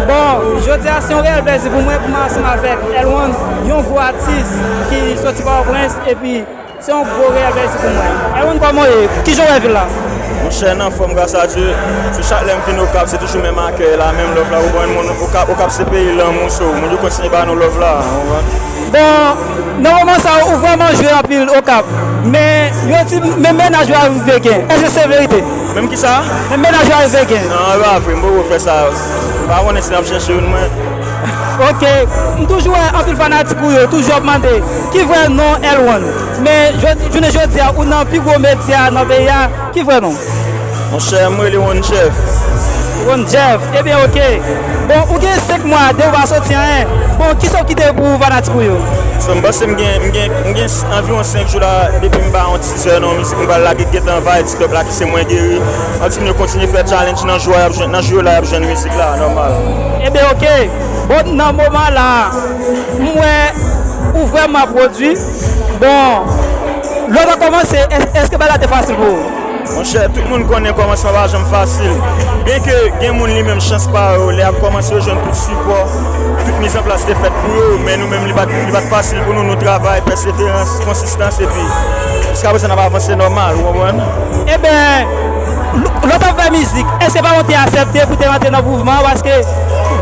Bon, jodi a se yon reyèl plèzi pou mwen pou mwen ansanm avèk L-One, yon gwo atis ki soti Pòtoprens epi se yon gwo reyèl plèzi pou mwen. L-One kòman w ye? Ki jan w wè vil la? Monchè n anfòm gras a Dye. Sou chak lè m vin Okap se toujou menm akèy la, menm love la ou konprann moun Okap, Okap se peyi lanmou so moun yo kontinye ba nou love la ou konprann. Bon, nan moman sa ou vrèman jwe anpil Okap men yo di menm mennaj ou arive gen, èske se verite? Menm kisa? Menm mennaj la rive gen. Nan e pa vre m poko fè sa. M pa konnen si nap chèche youn mwen. Ok m toujou wè anpil fanatik ou yo toujou ap mande ki vrè non L-one men jounen jodia ou nan pi gwo medya nan peyi a ki vrè non w? Monchè m rele One Jeff. One Jeff ebyen ok. Bon ou gen 5 mwa depi ou pa soti anyen bon kisa ou kite pou fanatik ou yo? Bon m panse m gen anviwon 5 jou la depi m pa yon ti. Ti sè non mizik mwen pral lage gentan vay ti pèp la ki se mwen geri antim yo kontinye fè challenge nan jou a yap jwenn nan jou yo la yap jwenn mizik la nòmal. Ebyen ok bon nan moman la m wè ou vrèman pwodwi bon lè w ta kòmanse èske bagay la te fasil pou ou? Monchè tout moun konnen kòmansman pa janm fasil byen ke gen moun li menm chans pa yo lè yap kòmanse yo jwenn tout sipò tout miz an plas te fèt pou yo men nou menm li pat fasil pou nou nou travay pèseverans konsistans. distans epi jiska prezan nap avanse nòmal ou konprann. Eben, lè w t ap fè mizik, èske se paran w te asèpte pou w te rantre nan mouvman an? Paske,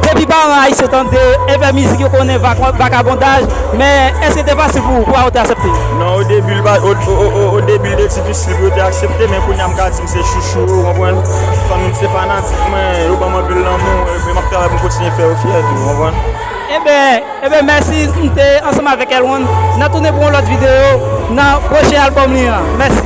depi paran ayisyen tande e fè mizik, yo konnen vakabondaj. Men, èske l te fasil pou paran w te asèpte? Non, odebi l pa, odebi l te difisil pou yo te aksepte, men kounye a m ka di m se chouchou yo, ou konprann. Fanmi m se fanatik mwen, yo ban m anpil lanmou, epi m ap travay pou m kontinye fè yo fyè tou, ou konprann. Eben, Ebyen mèsi m te ansanm avèk L-one nan tounen pou yon lòt video nan pwochen album li an mèsi.